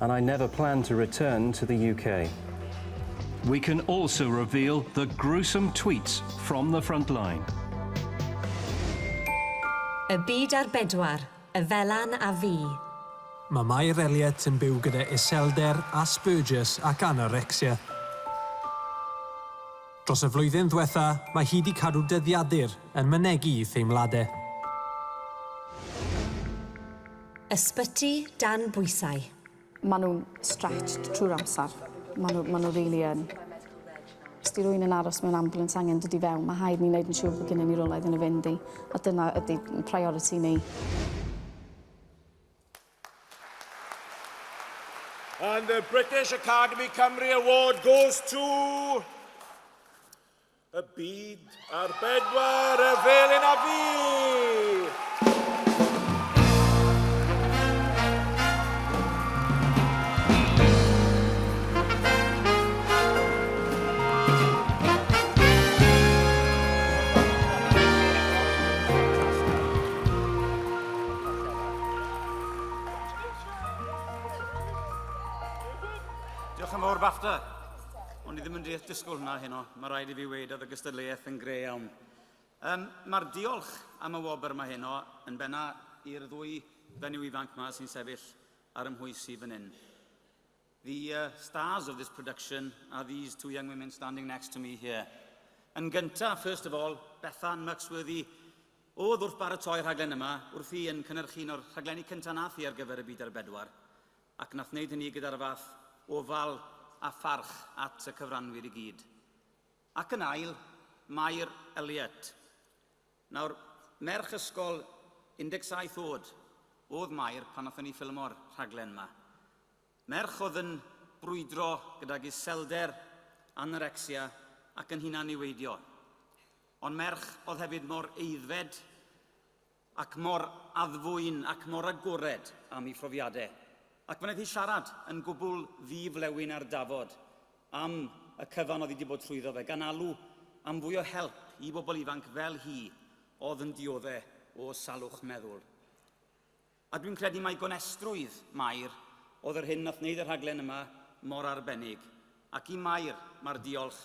And I never plan to return to the UK. We can also reveal the gruesome tweets from the frontline. Y byd ar bedwar, y Felan a fi. Mae Mair Elliott yn byw gyda iselder, Asperger's ac anorexia. Dros y flwyddyn ddiwetha', mae hi 'di cadw dyddiadur yn mynegi i theimlade. Ysbyty dan bwysau. Maen nhw'n stretched trwy'r amser. Maen nhw, maen nhw really yn. Os di rwy'n yn aros mewn ambulance angen dod i fewn, mae haid ni wneud yn siŵr bod gennym ni rolau iddyn nhw fynd i, a dyna ydy priority ni. And the British Academy Cymru Award goes to... y byd ar bedwar y felin a fi! Diolch yn fawr, BAFTA. Ond i ddim yn deall disgwyl hwnna heno, mae rhaid i fi weid oedd y gystadleuaeth yn gre iawn. Um, Mae'r diolch am y wobr yma heno yn benna i'r ddwy fenyw ifanc yma sy'n sefyll ar ymhwys i fan hyn. The uh, stars of this production are these two young women standing next to me here. Yn gyntaf, first of all, Bethan Muxworthy, oedd wrth baratoi'r rhaglen yma, wrth i yn cynnyrchu un o'r rhaglenni cyntaf nath i ar gyfer y byd ar bedwar. ac na thwneud hynny gyda'r fath ofal a pharch at y cyfranwyr i gyd. Ac yn ail, Mair Elliott. Nawr, merch ysgol 17 oed oedd Mair pan nathon ni ffilmo'r rhaglen 'ma. Merch oedd yn brwydro gydag iselder, anorecsia ac yn hunan-niweidio. Ond merch oedd hefyd mor aeddfed, ac mor addfwyn ac mor agored am ei phrofiade, ac fe wnaeth hi siarad yn gwbl ddi-flewyn ar dafod am y cyfan oedd hi wedi bod trwyddo fe, gan alw am fwy o help i bobl ifanc fel hi oedd yn diodde o salwch meddwl. A dwi'n credu mai gonestrwydd Mair oedd yr hyn nath wneud y rhaglen yma mor arbennig, ac i Mair, mae'r diolch